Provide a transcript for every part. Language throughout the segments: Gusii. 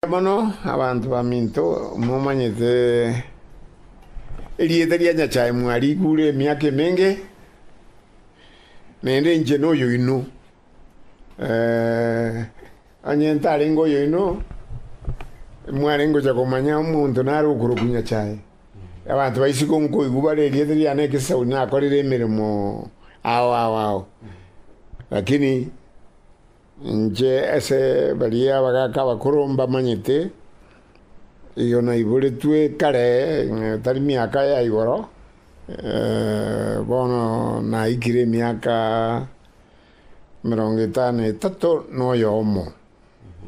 Mono abanto baminto, momanyete erieta ria Nyasae mwariigure emiaka emenge, na ende inche noyoino. Onye ntarenge oyoino, mwarenge gocha komanya omonto nare okorokwa Nyasae. Abanto baise gonkoigwa bare erieta riane ekesauni nakorire emeremo ao ao ao. Lakini. Inche ase baria abagaaka abakoro mbamanyete, igo naiboretwe kare, tari miaka ya igoro, bono naikire emiaka emerongo etano na etato na oyomo.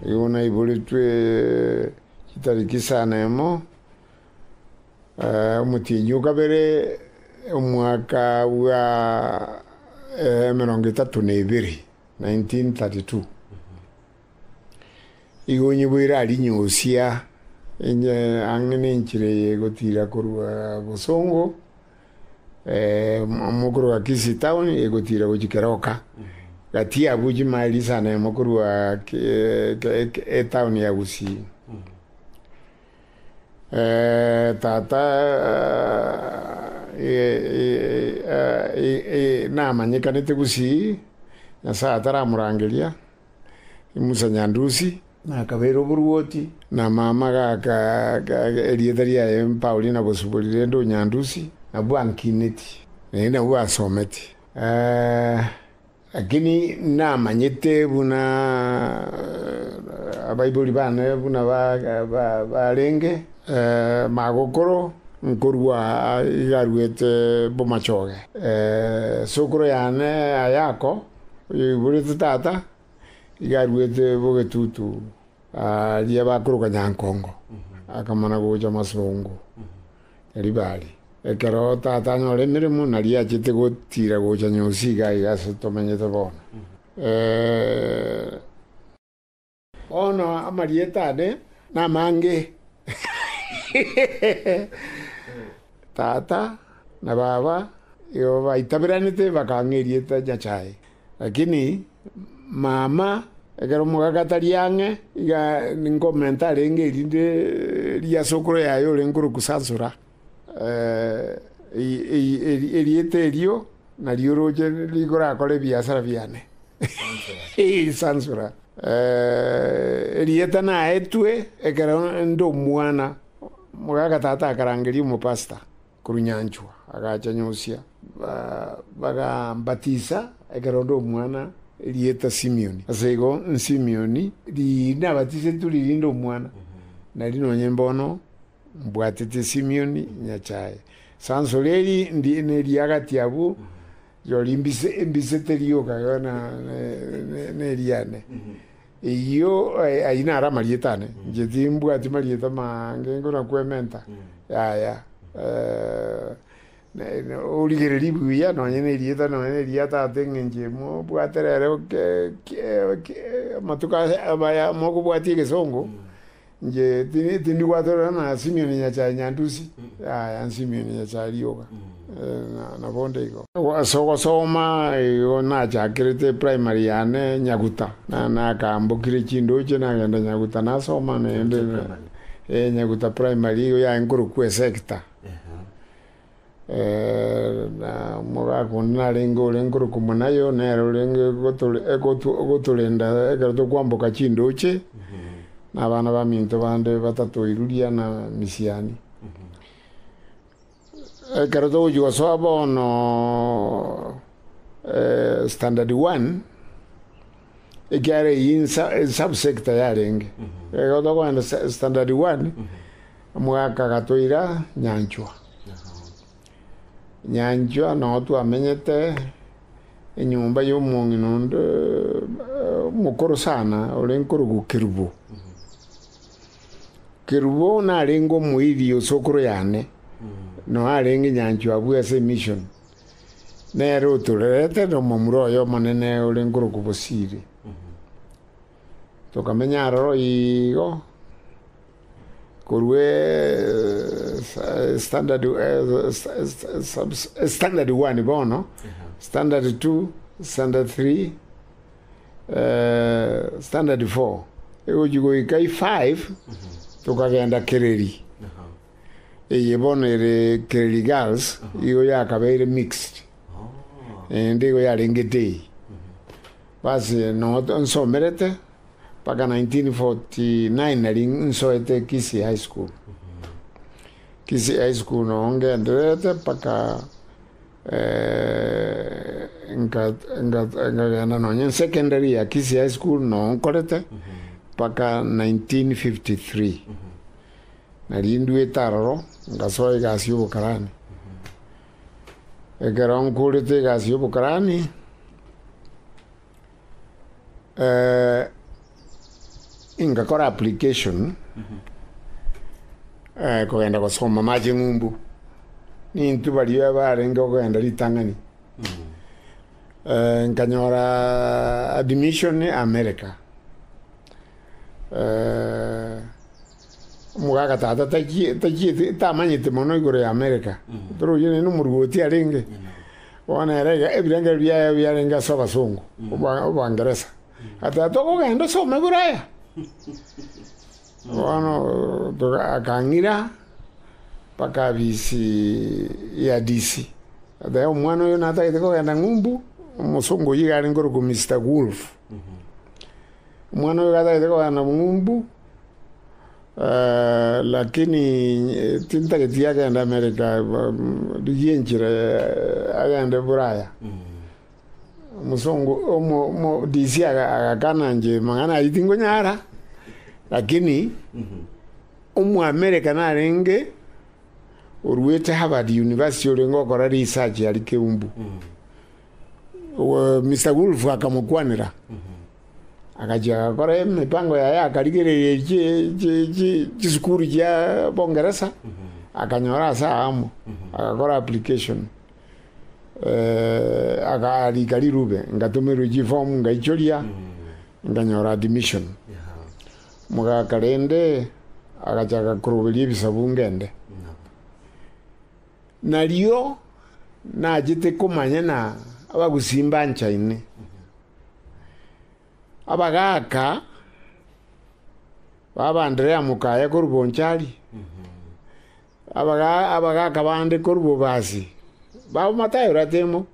Igo naiboretwe chitariki sa na emo, omotienyi o kabere, omwaka bwa emerongo etato na ebere. 1932. Igo onye bweire arinyosia enye ang'e nenchera eye egotira korwa bosongo, amo korwa Kisii town egotira gochia Keroka, gati abwo chimile isano emo korwa etown ya Gusii. Tata, namanyekanete gusii, Nyasae ataramorangeria, Musa Nyandusi, nakabeire oboruoti, na mama gaka erieta riaye Paulina Bosubori rende Onyandusi, nabwo ankineti, naende nabwo asometi. Lakini namanyete buna abaibori bane buna barenge magokoro nkorua igaruete bomachoge. Sokoro yane Ayako, oyoiborete tata, igaruete bogetutu aria bakoroka Nyankongo, akamana gocha Masongo. Libali. Ekero Tata anyora emeremo, naria achete gotira gocha nyonsi iga iga ase tomenyete bono. Bono amarieta ane namange, Tata, na Baba, igo baitaberanete, bakang'a erieta Nyasae. Lakini mama, ekero omogaka tari ang'e, iga ninkomenta arenge erinde ria sokoro yaye ore nkorokwa Sansora, erieta erio nario oroche rigorakore ebiasara biane. Sansora. Erieta naetwe ekero nde omwana, omogaka tata akarangeria omopastor. Korwa nyanchwa agacha Nyosia, bagambatisa ekero onde omwana erieta Simioni. Ase igo Simioni riria nabatisetwe riria inde omwana, nari nonye mbono mbwatete Simioni, Nyachae, sansoria eri ndie neria agati abwo. Rirorio mbise mbise terioka Yona neriane eyio ayio naro amarieta ane inche timbwati marieta mange korwa kwementa yaya origereria buya nonye na erieta nonye na eria tata eng'encho imwe obwate rero amatuko aya amaya mokobwati egesongo. Inche ti- tindi gwatorerana na Simioni nyachae nyantusi, yaya Simioni nyachae rioka, eh, na- na bonde igo. Ase ogosoma igo nachakerete primary yane Nyaguta, na- nakambokire chindoche nagenda Nyaguta nasoma naende, eh, Nyaguta primary igo yaye nkorokwa esecta. na omogaka onde narenge ore nkorokwa omonayo, nere orenge ogotorenda ekero tokwamboka chindooche, na abana baminto bande batato Iludia na Misiani. Ekero togochia gosoa bono standard one. ekiagera eyio insa esubsector yarenge. Ekero tokogenda sa- standard one, omogaka gatoira Nyanchwa. Nyanchwa noo twamenyete enyomba ya omong'ina onde eh, omokoro sana ore nkorokwa Kerubo. Kerubo narenge omoiri osokoro yane, noo arenge Nyanchwa abwo ase emission. Nere otorerete nomomura oye omonene ore nkorokwa Bosiri, tokamenya aroro igo korwa standard standard one bono, standard two, standard three, standard four, egochia goika efive tokagenda kereri. Eye bono ere clerigals, igo yakabeire mixed, naende igo yarengete eye. Basi no nsomerete mpaka 1949 nari nsoete Kisii High School. Kisii High School no ngendererete mpaka eh, nka- nka- nkagenda nonye secondary ya Kisii High School no nkorete mpaka 1953. Narinduete aroro, ngasoa egasi y'obokarani. Ekero nkorete egasi y'obokarani, ngakora application kogenda gosoma amacheng'umbu, nintwe baria abarenge kogenda ritang'ani. Nkanyoraa admission America. Omogaaka tata tachi- tachieti tamanyeti mono igoro y'Amereka, toro oyio nere nomoruoti arenge. Bono ere iga ebirengererio biaye biarenge ase abasongo, oba- obaangeresa. Ati tata okogenda osome Buraya? Bono toka akang'ira mpaka abisi ya DC. Oteba omwana oyo natagete kogenda ng'umbu, omosongo oyio iga arenge ore ko Mister Wolf. Omwana oyo gatagete kogenda na obong'umbu, lakini tintageti agende Amerika, ba- mm, rigia enchera eh, agende Buraya. Omosongo, omo, omo DC aga- agakana inche mang'ana ayio tingonyara, lakini Omoamerika narenge oruete Harvard University orenge gokora research aria Keumbu. Mister Wolf akamokwanera, agachia agakora emipango yaye akarigereria chi chi chi chisukuru chia Bongeresa, akanyora ase aa amo, agakora application eh, akarika rirube, ngatomerwa chiform ngaichoria, nkanyora admission. Mogaka rende agachaka koroberia ebisabu ngende. Nario nachete komanya na abagusii mbanchaine, abagaaka b'Abaandrea mokaya korwa Bonchari, abaga- abagaaka bande korwa Bobasi, babo Matayo Ratemo,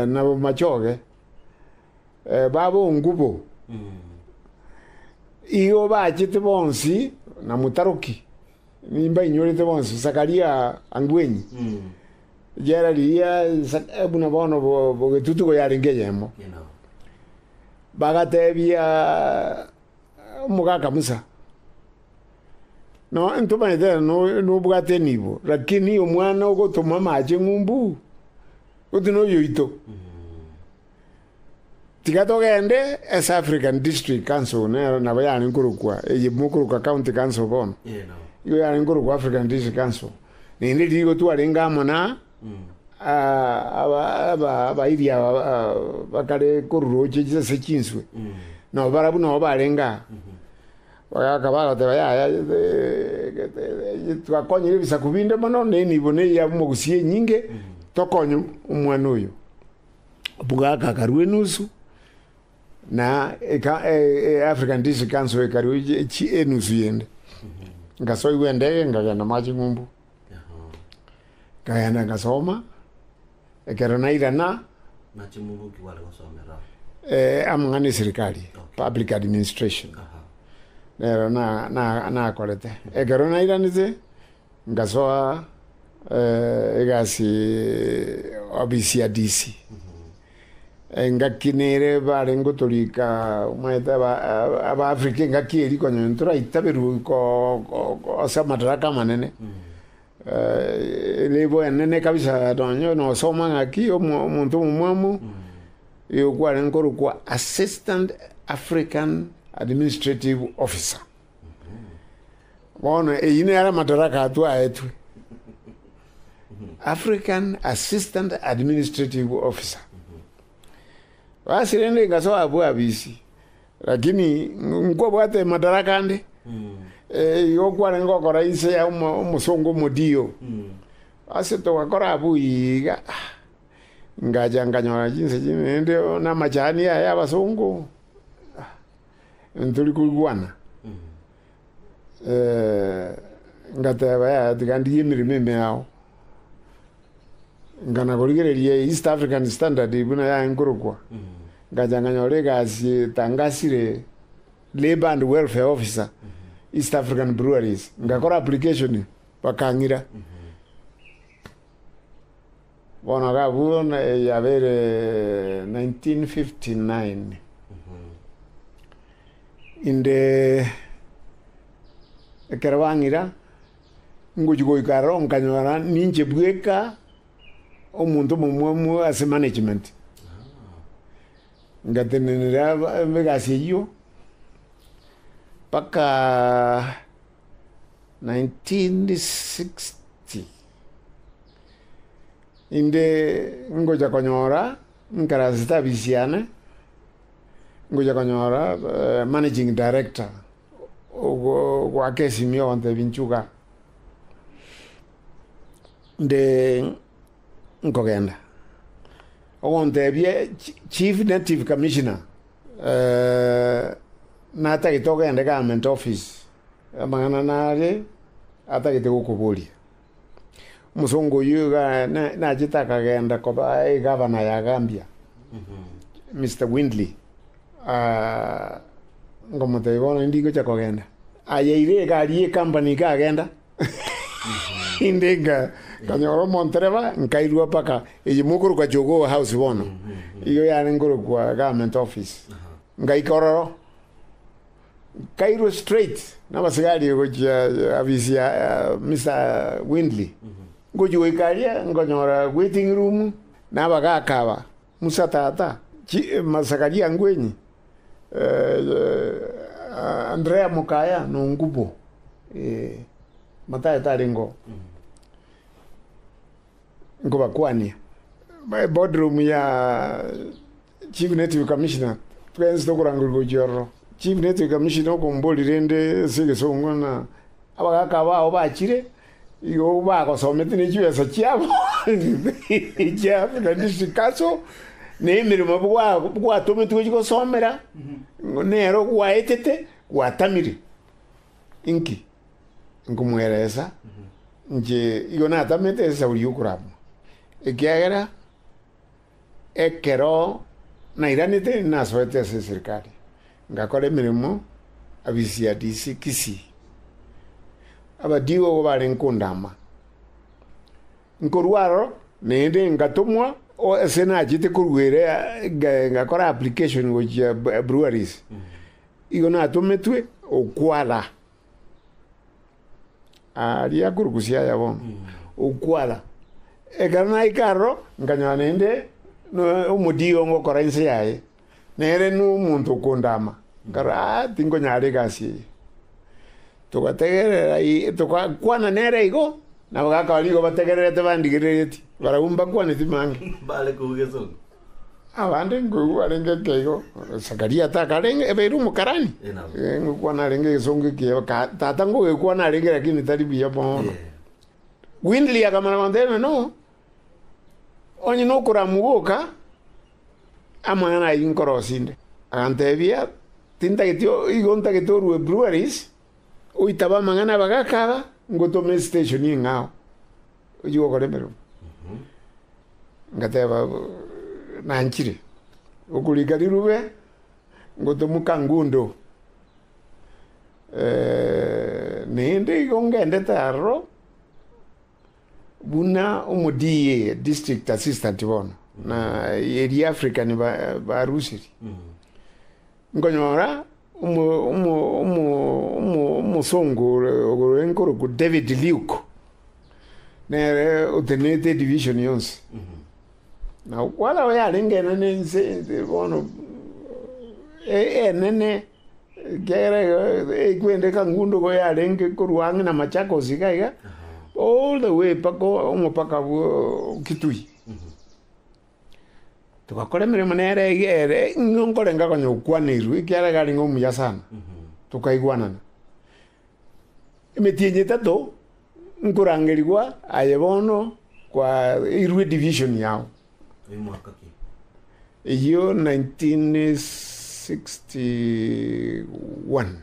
na Machoge, babo Ongubo, igo bachete bonsi na Mutaroki. Nimbainyorete bonsi, Zakaria angwenyi, riera riria Zaka- buna bono bo- bogetutu igo yarenge eyemo. Bagatebia omogaka Musa, no ntomanyete ere no- nobwate enibo, lakini omwana ogotoma amache ng'umbu, goti noyoito. Tiga togende East African District Council, nero nabo yare nkorokwa, eye mokorokwa County Council bono, igo yare nkorokwa African District Council. Naende riria igo twarenge amo na ah, aba aba abairi aba ah, bakare koruroochia chi- ase chinswe, nabo barabwo nabo barenge aa. Bagaka bagoteba yaya eh, twakonyire ebisaku binde mono, na enibo na eya omogusi enyinge, tokonye omwana oyo. Bugaka akarua enusu, na eka- e- e- African District Council ekarua echi- echi- enusu yende. Ngasoigwa endege nkagenda moa ching'umbu, nkagenda nkasoma, ekero nairana Naching'umbuki gware gosomera ao. eh, amang'ana esirikari, public administration. Aha. nero na- na- nakorete ekero nairanete Ngasoa egasi ofisi ya DC. Engaki nere bare ngotorika omanyete aba Africa engaki eria konya onye toraitaberwe ase amadaraka amanene ere bwenene kabisa nonya nosoma ng'aki omonto omomwamu oyo kwarenge korokwa Assistant African Administrative Officer. Bono eyio nero amadaraka atwaetwe, African Assistant Administrative Officer. Basi rende ngasoa abwo abisi, lakini nkobwate madaraka ande eh, igo kware ngokora inse ya omo- omosongo omodio ase togakora abwo iga ah, ngacha nganyora chinse chinde rende namachani aya abasongo Ntori koigwana. Ngateba, yaya tiga ndigie emeremo ime yao. Nkana korigereria East African Standard buna yaye nkorokwa, ngacha nkanyora egasi etangasire Labour and Welfare Officer, East African Breweries. Ngakora application, bakang'ira. Bono agakwa na eyio abeire 1959, inde ekero bang'ira ngochia goika aroro nkanyora ninche bweka omonto omomwamu ase management. Ngatenenera aba- egasi eyio mpaka. 1960, inde ngocha konyora nkarase chitabi chiane, ngocha konyora managing director ogo ogoaka esimio ogontebia nchuga nde nkogenda, ogontebia chief native commissioner. Natagete ogende government office, amang'ana nare atagete gokoboria. Omosongo oyio iga na- nachete akagenda koba egavana ya Gambia, Mister Windley, ngomotebia bono nindigocha kogenda. Ayeire egari ye company iga agenda. Inde nka- nkanyora omontereba, nkairwa mpaka eye mokorokwa Jogoo House bono, igo yare nkorokwa Government Office. Ngaika ororo, nkairwa straight nabasigari gochia afisi ya eh, Mr. Windley. Ngochia goika aria, nkonyora waiting room, na abagaka aba, Musa tata, Zakaria ngwenyi, Andrea mokaya, nongubo, Matayo tarengoo, nkobakwania, boardroom ya chief native commissioner, twensi tokorangerwa gochia ororo. Chief native commissioner okombori rende ase egesongo ng'a abagaka bao bachire, Igo bagosomete ne chibesa chiabo chia buna disikaso, na emeremo bwatometigwe chigosomera, nero gwaetete, gwatamire. Inki? Nkomoeresa inche igo natamete esauria y'okoramwa, ekiagera. Ekero nairanete nasoete ase eserikari, ngakora emeremo abisi ya DC. Kisii. Abadigo barenge kondama. Nkorwa aro naende ngatomwa ase nachete koruera ngakora application gochia breweries. Igo natometwe okwara. Aria akorusia aya bono, okwara. Ekero naika aroro, nkanyora naende no omodigo ngokora inse yaye, nere no omonto okondama, nkarora aa tinkonyara egasi eye. Togategerera i togakwana nere igo, nabo gakaba nigo bategererete bandigerereti, barabwo mbakwaneti mange. Mbare kogesa. Abande nkoigwa barenge ekeigo, Zakaria takarenge, ebeire Omokarani, ngokwana arenge egesongo ekiya, tata ngogekwana arenge lakini tari buya bono. Windley akamana kontebia no, onye nokoramu goka, amang'ana ayio inkorosia inde. Agantebia, tintageti igo ntagete orue breweries, oitabe amang'ana abagaka aba, ngotome esiteshoni eng'ao. ochi gokora emeremo. Ngateba nanchire, okorika rirube ngotomoka ngundo naende igo ngendete aroro buna omoDA, district assistant bono, na eria African ba- barusirie. Nkonyora omosongo ore nkorokwa David Luke, nere otenenete edivision yonsi. Na kware aye yarenge enene inse bono, enene, ekiagera ekwende kangundo iga yarenge korwa ang'e na Machakos iga iga, all the way mpaka omopaka bwa Kitui. Togakora emeremo nere eyio ere ng'a nkorenga konya gokwaneiru, ekiagera iga arenge omuya sana. Tokaigwanana. Emetienyi etato, nkorangerigwa aye bono kwaeirwe edivision yao. Eyio nineteen sixty one.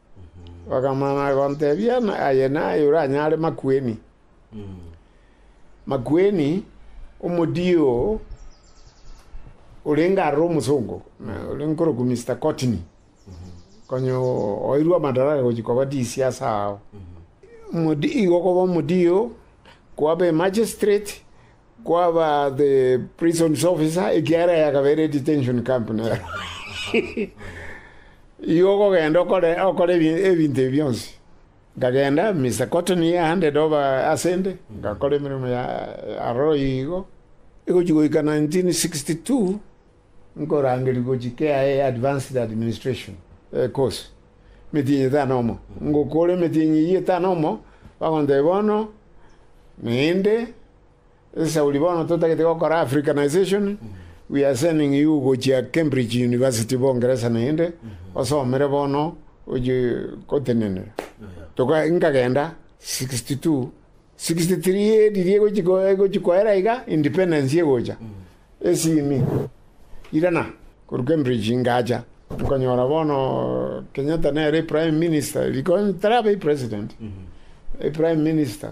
Bakamana gontebia, Aye naye oranyare makueni. Makueni, omodii oo orenge aroro omosongo, oria nkorokwa Mister Kotini, konya oeirwe amadaraka gochia koba DC ase agao. Omodii, igo okoba omodii oo, kwaba Emagistrate, Kwaba the prisons officer, ekiagera eya kabere detention camp nero. Igo okogenda okore, okore ebi- ebinto ebi bionsi. Nkagenda, Mr. Cotton he handed over asende, ngakora emeremo ya aroro igo. Egochi goika 1962, nkorangerigwa gochia KIA Advanced Administration eh, course, emetienyi etano omo. Ngokora emetienyi eyio etano omo, bagontebia bono, naende Esauri bono totagete gokora Africanization, we are sending you gochia Cambridge University Bongeresa naende osomere bono oche gotenenera. Toka nkagenda 62 63 edirie gochi ko- gochi koera iga independence egocha esimi irana korwa Cambridge ngacha nkonyora bono Kenyatta nere prime minister riko ntarabe president prime minister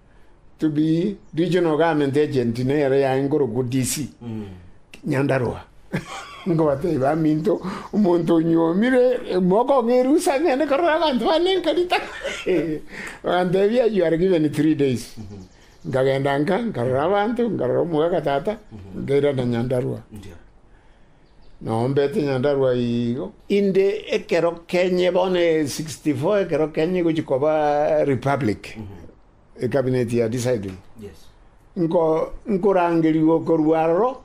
to be regional government agent nere yaye nkorokwa DC Nyandarua nkobatebia baminto omonto onyuomire mokong'a erusa ng'ende korora abanto bane nka ritang'ani bagantebia you are given three days nkagenda nka nkarora abanto nkarora omogaga tata nkairana Nyandarua Ndio. Naombete Nyandarua igo. Inde ekero kenye bono 64 ekero kenye egochia koba republic ecabinet ya deciding nko nkorangerigwa korwa aroro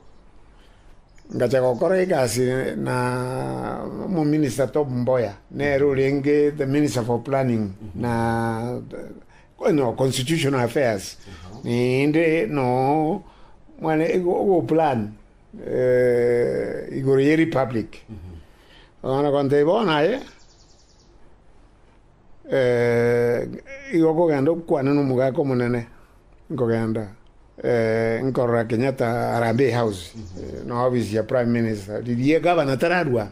ngacha gokora egasi na omominister Tom Mboya nere orenge the minister for planning na no constitutional affairs naende no mwane ogo plan. igoro ye republic, bakana kontebia bono aye igo okogenda okwane na omogaka omonene nkogenda nkorora Kenyatta Harambee House na office ya prime minister riria egabana tararwana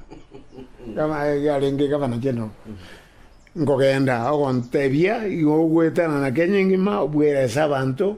yarenge egabana general nkogenda ogontebia igo ogwetanana Kenya engima obwerese abanto.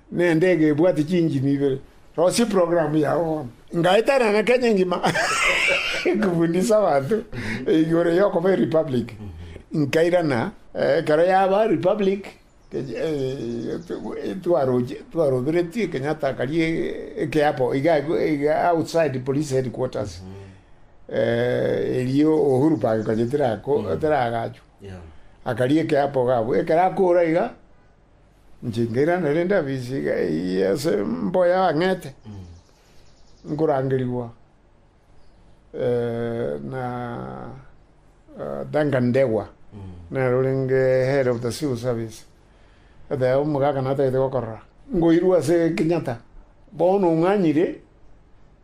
Nendege ebwate chinjini ibere. Rosia eprogramu yao bono. Ngaetanana Kenya engima nkofundisa abanto igoro y'okoba erepublic. Nkairana ekero yaba republic twaroche twaroberetie Kenyatta akaria ekeapo iga iga outside police headquarters erio Uhuru Park konya tera tera agachwa. Akaria ekeapo iga abwo ekero akora iga. Inche nkairana rende abisiga eyio ase mboyo y'abang'ete, nkorangerigwa na Duncan Ndegwa, nere orenge Head of the Civil Service, oteba omogaka natagete gokorora, nkoirwa ase Kenyatta, bono ong'anyire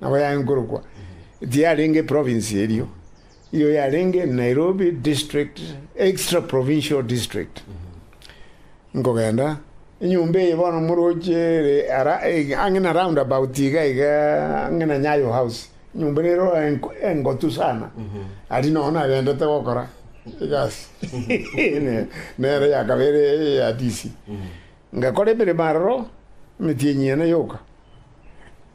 Nabo yaenkorokwa, tiyarenge eprovince erio, iyo yarenge Nairobi District Extra-Provincial District. Nkogenda, enyomba eye bono moroche ere ara ang'e na round about iga iga ang'e na Nyayo House, enyomba nero engotu sana, aria nonya nagendete gokora egasi nere yakaba ere eya DC. Ngakora emeremo aroro, emetienyi ene yoka.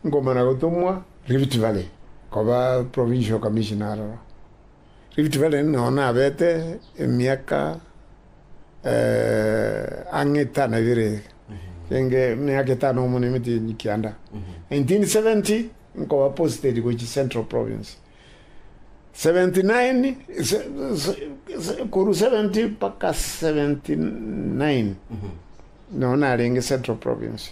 ngomana gotomwa Rift Valley koba provincial commissioner aroro. Rift Valley nigo nabete emiaka ang'e etano ebere genge emiaka etano amo na emetini kianda. 1970 nkoba posted gochia Central Province. 79 korwa 70 mpaka 79 nigo narenge Central Province.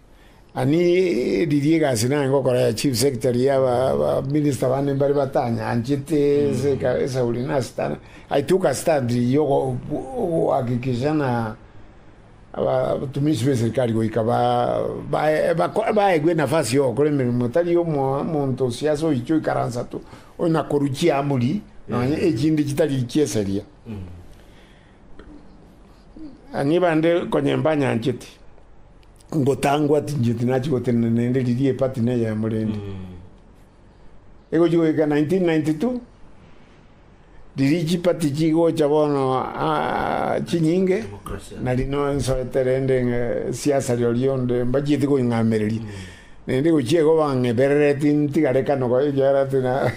Ani riria egasi nare ngokora ya chief secretary ya abaminista bane mbare batanyanchete ase eka- esauri nasitana i took a stand ya ogo- ogohakikisha ng'a aba- abatumishi b'eserikari goika ba- bae- bako- baegwe enafasi ya ogokora emeremo tari omo- omonto o siasa oiche oikaransa tu, onakorwa chiamuri nonye echinde chitari chieseria. Ang'e bande konya imbanyancheti, ngotangwa tincheti nachia gotenena naende riria epati neyemo rende. Egochia goika 1992, riria chipati chigocha bono ah, chinyinge, Democracy. nari no nsoete rende ng'a siasa rirorio onde mbachieti koing'amereria. Naende gochia igo bang'eberereti ntigare kano koichera ati na-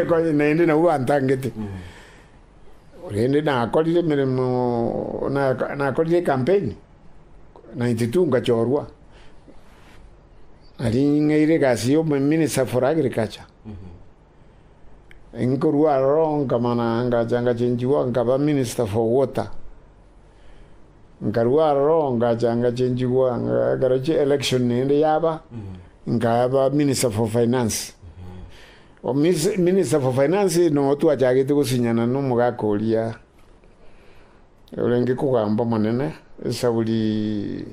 konya naende nabwo bantangete. Korende nakorire emeremo, nakorire ekampeni, 92 nkachorwa. Nari ng'eire egasi ya Minister for Agriculture, nkorwa aroro nkamana ngacha ngachenchigwa nkaba Minister for Water. Nkarua aroro ngacha ngachenchigwa ekero chi election naende yaba, nkaba minister for finance. Minister for finance no twachagete gosinyana na omogaka oria orenge kogamba omonene esaburi.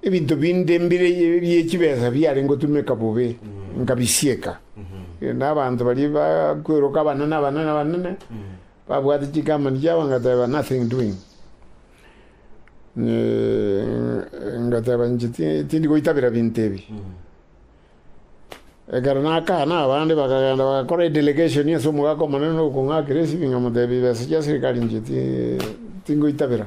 Ebinto binde mbire bie chibesa biarenge gotumeka bobe nkabisieka, na abanto baria bakweroka abanene abanene abanene babwate chikampani chiabo ngateba nothing doing Eh, ngateba inche ti- tindi goitabera binto ebi ekero nakana abande bakagenda bagakora edelegation ase omogaka omonene okong'akera esibinga motebi besa chia serikali inche ti- tingoitabera.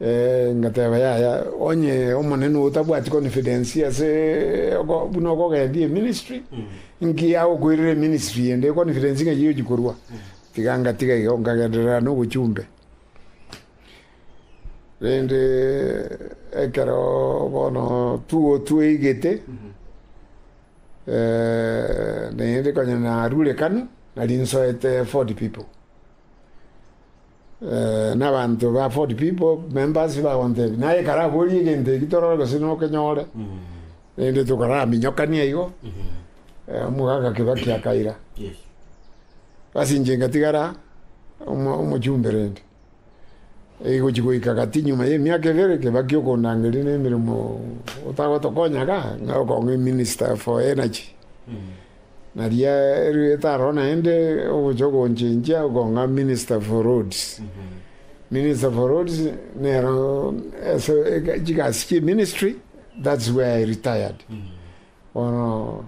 Ngateba, Yaya, onye Omonene otabwati confidence ase buna okogendia eministry, nki agokoirera eministry ende confidence ng'a eyiyochi korwa? Iga ngatiga igo, nkagenderera nobochumbe. Rende ekero bono two tweigete, naende konya narure Kanu, nari nsoete forty people. Nabanto ba Ford People members bagontebia, naye karaborie egento eki torore gose nokenyore, rende tokaraminyokania igo, omogaka Kibaki akaira. Ase inche ngatigara omo- omochumbe rende. Egochi goika gati nyuma y'emiaka ebere, Kibaki okondangeria na emeremo otagotokonya iga, ng'a okong'a eminister for energy. Na riarwete aro naende ogocha gonchenchia okong'a Minister for Roads. Minister for Roads nero ase chigasi chi ministry that's where I retired. Bono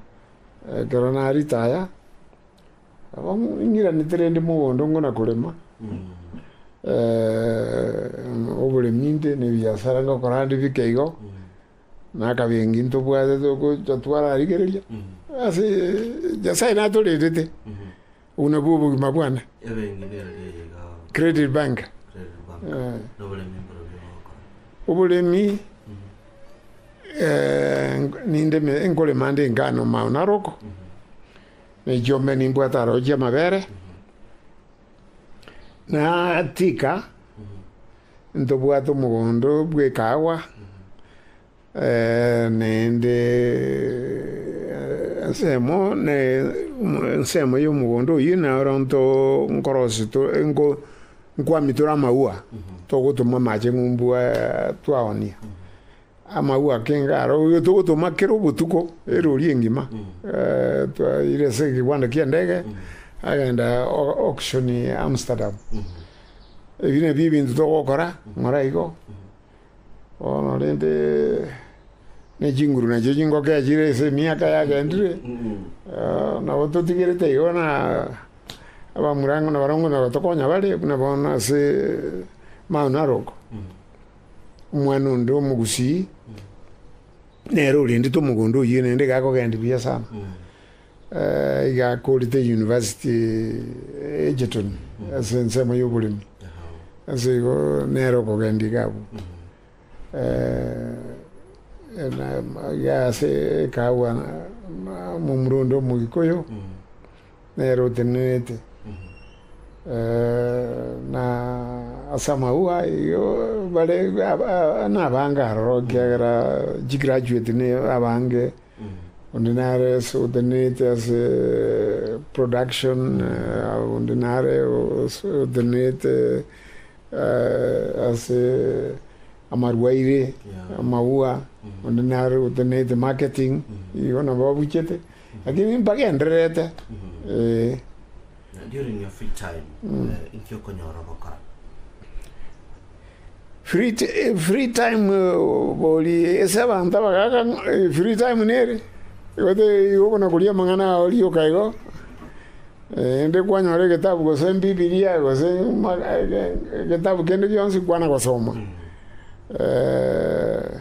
ekero na retire nabo ing'iranete rende mogondo ngona korema oboremi nte na ebiasara ngokora nde bike igo Nakabe engiya ntobwate togocha twararigereria ase Nyasae natorendete, obwo nabwo obogima bwane. Credit bank. Oboremi ninde nkorema nde engano mao na roko, na echiombe nimbwate aro chi'amabere, natika Ntobwate omogondo bw'ekaagwa, naende ensemo ensemo y'omogondo oyio nero nto nkorosi nko nkwami tore amauwa, togotoma amache ng'umbu twaoonia. Amagwe a Kingaro, oyo togotoma kera obotuko, erori engima. Twaire ase egegwanda ki'endege, agenda auction Amsterdam. Ebi nabio ebinto togokora, ng'ora igo. Bono rende, ne chinguru nachio chingokea chire ase emiaka yagendire, nabo totigerete igo na abamurango nabarongo nabato konya bare, buna bono ase maono aroko. omwana onde omogusii nere orendete omogondo oyio naende iga akogenda buya sana iga akorete University Egerton ase ensemo ya oboremi ase igo nere okogenda iga abwo iga ase ekahawa momura onde omogikoyo. nere otenenete, na ase amauga ayio bare nabange aroro, ekiagera chigraduate nabange, onde nare ase otenenete ase production, onde nare otenenete ase amarwaire, amauga, onde nare otenenete marketing, igo nabo abuchete. Lakini mbagendererete, ee. During your free time, eh, inki okonyora ogokora? Free ti- eh, free time eh, bori ase abanto abagaaka ng'a- eh, free time nere igo te- igo buna koria amang'ana ao rioka igo eh, inde kwanyora egetabu gose mbibilia gose ma- eh, ge- getabu kende gionsi kwana gosoma Eh,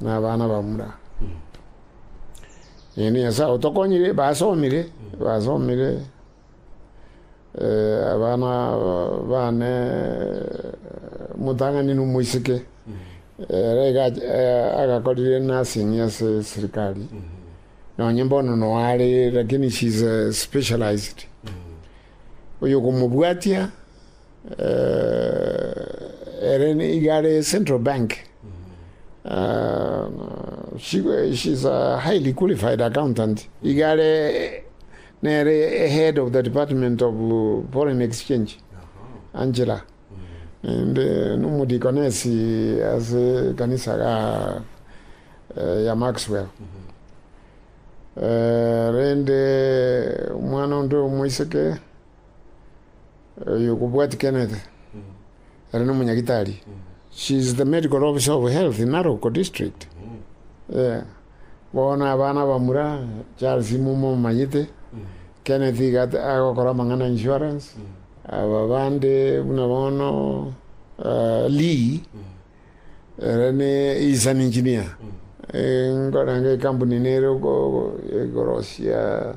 nabana ba mura. Naende Nyasae otokonyire, basomire, basomire eh, abana bane motang'ani na omoiseke ere iga- eh, agakorire nursing ase serikali nonye mbono noare lakini she's eh, specialized oyo okomobwatia Ere nigo are central bank, she is a highly qualified accountant, igo are nere head of the department of foreign exchange, Angela, naende nomodikonesi ase ekanisa ya Maxwell. Rende omwana onde omoiseke. Oyo okobwatia kenete ere no monyagitari. She is the medical officer of health in Narok district. Bono abana abamura Charles imwe momanyete. Keneth iga agokora amang'ana insurance. Aba bande buna bono Lee ere ne he is an engineer. Nkore naende ekampuni nere igoro sia.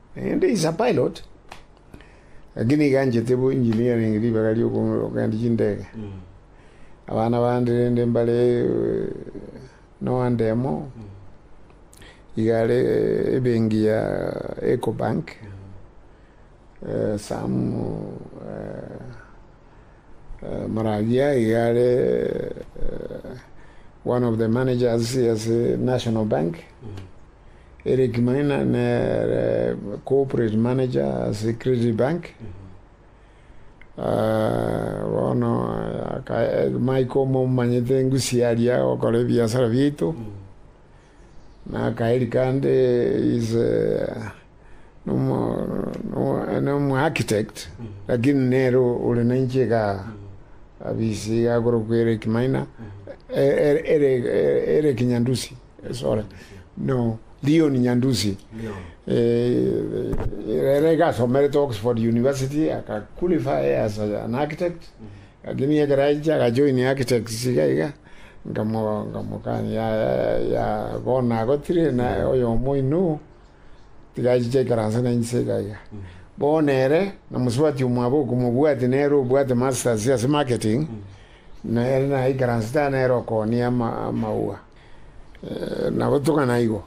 Naende insa Pilate, gaki niganchete bo engineering ribaga ri'okogenda chindege, abana bande rende mbare noande amo, iga are ebengi ya Ecobank, Sam Moravia iga are one of the managers ase National Bank. Eric Maina nere corporate manager ase Credit Bank. Bono my koma omanyete engusi yaria gokora ebiasara biaito, na akae rikande is nomo architect lakini nere ore nainche igaa abisi iga akorokwa Eric Maina ere Eric Nyandusi. Leon Nyandusi, ere iga asomerete Oxford University, aka qualify as an architect, lakini ekero achia aga join architects iga iga, nkamo nkamokania yaya yaya bono nagotire naye oyomo oino, tiga achiche ekeransa na inche iga iga. Bono ere na mosubati omwabo okomobwati nere obwate masters ase marketing, nere naye ekeransa tari nere okooni ama amaua. Nagotogana igo.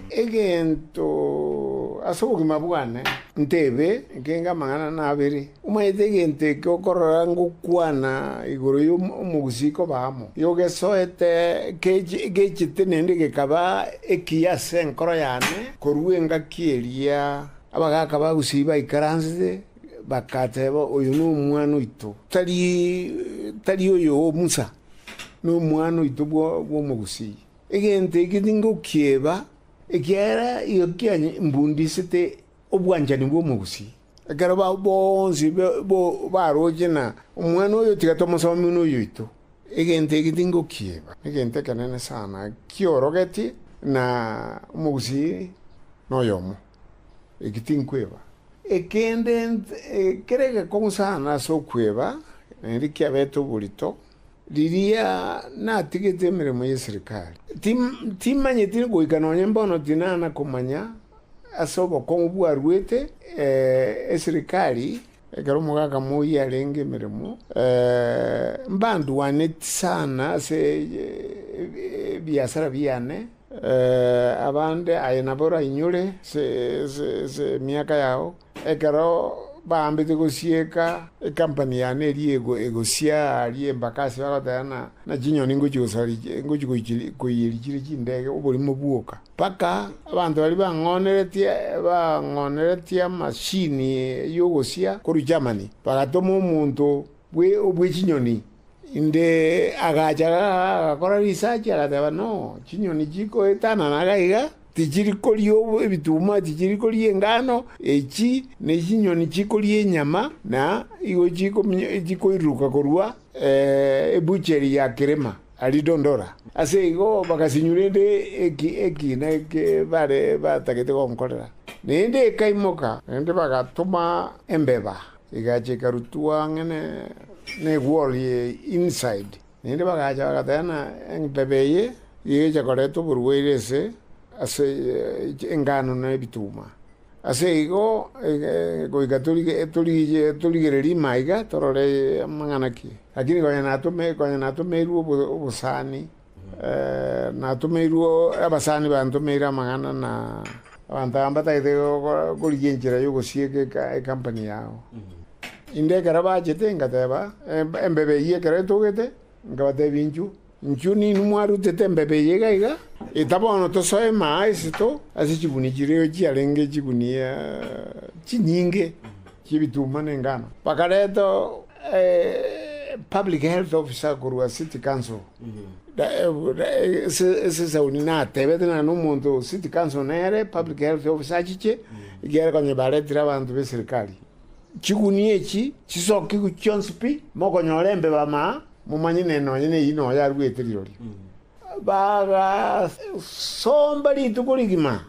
Egento ase obogima bwane ntebe nkenge amang'ana na abere. Omanyete egento eke okorora ngokwana igoro yo omogusii koba amo, yogesoete gechete nende gekaba ekiya ase enkoro yane korwa engaki eria abagaka bagusii baikaransete. Bakateeba, Oyo nomwana oito, tari tari oyo o Musa, nomwana oito bw'omogusii? Egento eke tingokieba, ekiagera igo kianye mbundisete obwanchani bw'omogusii. Ekero bao bonsi baroche na omwana oyo, tiga tomosomie buna oyoito. Egento eke tingokieba, negento ekenene sana kiorogetie, na omogusii noyomo. Eki tinkweba. Ekende kere egekong'u sana ase okweba, naende kiabete oborito, riria natigete emeremo y'eserikari. Timanyeti goika nonye mbono tinana komanya ase obokong'u bwaruete eserikari ekero omogaka moyio arenge emeremo. Mbandwaneti sana ase ebiasara biane. Abande, aye nabo orainyore emiaka yao, ekero baambete gosieka ekampani yane eria egosia aria embaka ase bagoteba ng'a na chinyoni ngochia gosaria ngochia koiyeria chire chindege oborimo bwoka. Mpaka abanto baria bang'oneretie bang'oneretie amachine y'ogosia korwa Germany, bagatoma omonto bwe chinyoni Inde agacha agakora risachi, agateba, No, chinyoni chikoetanana iga iga, tichiri koria ebituma, tichiri koria engano, echi nechinyoni chikoria enyama, na igo chikoiruruka korwa ebucheri ya Kilima aria Dondora. Ase igo bagasinyora ende ekiina eke bare batagete gonkorera, na ende ekaimoka, naende bagatoma embeba. Egacha ekarutwa ang'e n'egworo ye inside, naende bagacha bagatena eng'tebe eye gecha koreta oborwaire ase ase engano na ebituma. Ase igo goika torigereria ime aiga torore amang'ana ki, lakini konya natome konya natomeirwe obosani. Natomeirwe abasani bantomeire amang'ana na abanto aba mbatagete korigia enchera y'ogosieka ekampani yao. Inde ekero bachete ngateba, Embebe eyio ekero etogete, nkabatebia inchuo. Inchuo ninwe mwarutete embebe eye iga iga, eta bono tosoe emaa ase to, ase chigunia chiria chiarenge chigunia chinyinge. chi'ebituuma na engano, bakareta public health officer korwa city council esesauni natebete naende omonto o city council nere public health officer achiche ekiagera konya baretire abanto b'eserikari. Chigunia echi chisokigwe chionsi pi, mokonyore embeba amaaaa, momanye ne nonye neyio noyo aruete rirorio. Bagasomba rituko rigima,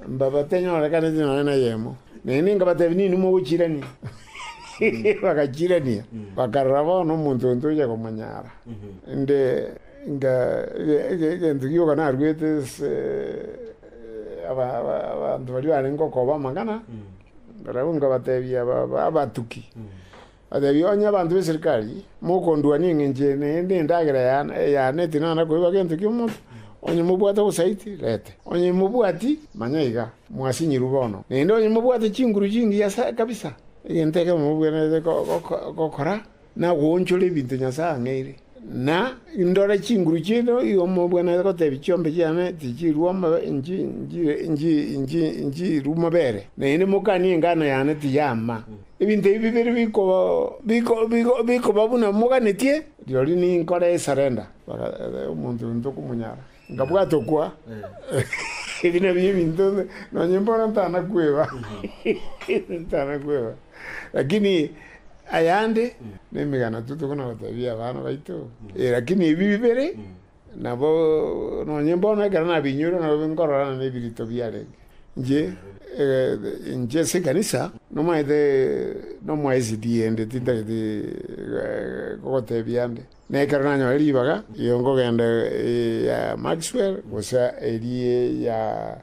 mbabatenyorekaneti nonya neyemo, naende nkabatebia, Ninwe mogochirania? Bagachirania, bakarora bono omonto oyo tochia komonyara. Inde inga egento gioka naruete ase abanto baria barenge okoba amang'ana, barabwo nkabatebia abatuki. Ateebie onye abanto b'eserikari, Mokondua ning'enchwe naende endagera y'aana ey'aana etinana koiba gento ki'omonto, onye mobwate obosaiti, rete. Onye mobwati, manya iga, mwasinyirwe bono. Naende onye mobwate chinguru chingiya kabisa, egento ekemo mobwenerete gokora, nagoonchora ebinto Nyasae ang'eire. Na indore chinguru chiaito igo mobwenerete gotebia chiombe chiane tichirua mobeere, na inde mokanie engano yane tiyama. Ebinto ebi bibere bikoba buna moganetie, rirorio ninkore esurrender. Omonto oyo ntokomonyara. Nkabwata okwa, Ebi nabio ebinto nonye mbono ntanakweba, ntanakweba. Lakini ayande nemegano totokona gotebia abana baito, lakini ebi bibere nabo nonye mbono ekero nabiinyore nabo nkororana nebirito biarenge. Inche, inche ase ekanisa nomanyete nomwa SDA inde tintagete gogotebia ande. Na ekero nanyore ribaga, iyo nkogenda eria Maxwell, gose eria ya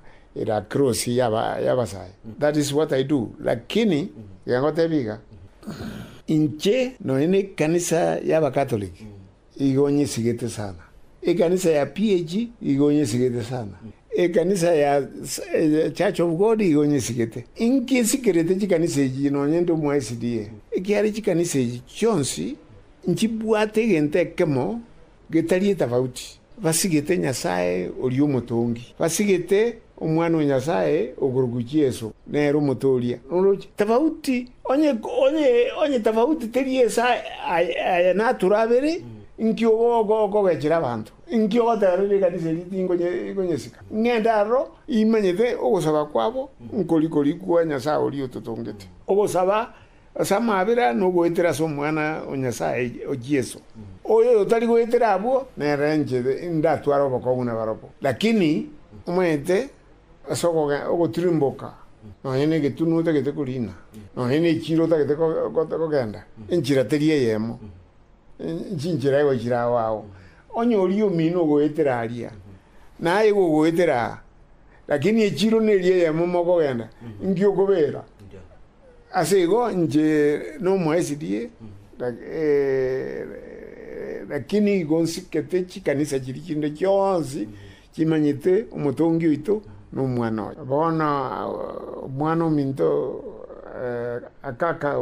Lacrosse y'Abasae, that is what I do, lakini iga ngotebia iga, inche nonya ne ekanisa y'Abakatoliki igo nyesigete sana, ekanisa ya PAG igo nyesigete sana, ekanisa ya Church of God igo nyesigete. Inkesikerete chikanisa echi nonya nde omo SDA, ekiagera chikanisa echi chionsi Nchibwate egento ekemo getari etafauti, basigete Nyasae oria Omotongi, basigete Omwana o Nyasae okorugu Yeso, nere Omotooria noroche. Tafauti, onye, onye, onye tafauti teri ase aye, aye naturo abere, inki ogo oko okogechera abanto? Inki ogoteba rende ekanisa eria tinkonye, ikonyesika? Ng'ende aroro, imanyete ogosaba kwabo, nkori kori kwa Nyasae oria ototongete. Ogosaba Ase amabera nogoetera ase Omwana o Nyasae o Yeso. Oyoyo otari goetera abwo nere inche ndatware obokong'u nabarabwo. Lakini omanyete ase ogotirimboka nonye negetunwa otagete korina, nonye nechiro otagete kogenda, enchera teri eyemo, chinchera igo chire ao ao. Onye oria omino ogoetera aria, naye igo ogoetera aa, lakini echiro neri eyemo mokogenda, inki okobera? Ase igo inche n'Omoesidi, lakini igo nsikete chikanisa chiria chinde chionsi chimanyete Omotongi oito na Omwana oye. Bono Omwana-ominto akaka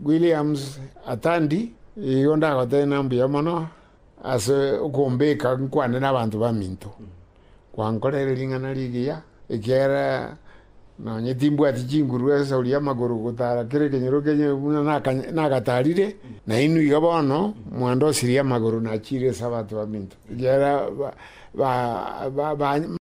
Williams Atandi, igo ndagotebia na mbuya mono ase okombeka nkwane nabanto baminto. Gwankorere ring'ana rigiya, ekiagera nonye timbwati chinguru esori y'amagoro gotara kera ekenyoro kenyene buna nagatarire, na inwe iga bono mwandosirie amagoro nachiire Esabato baminto, ekiagera ba.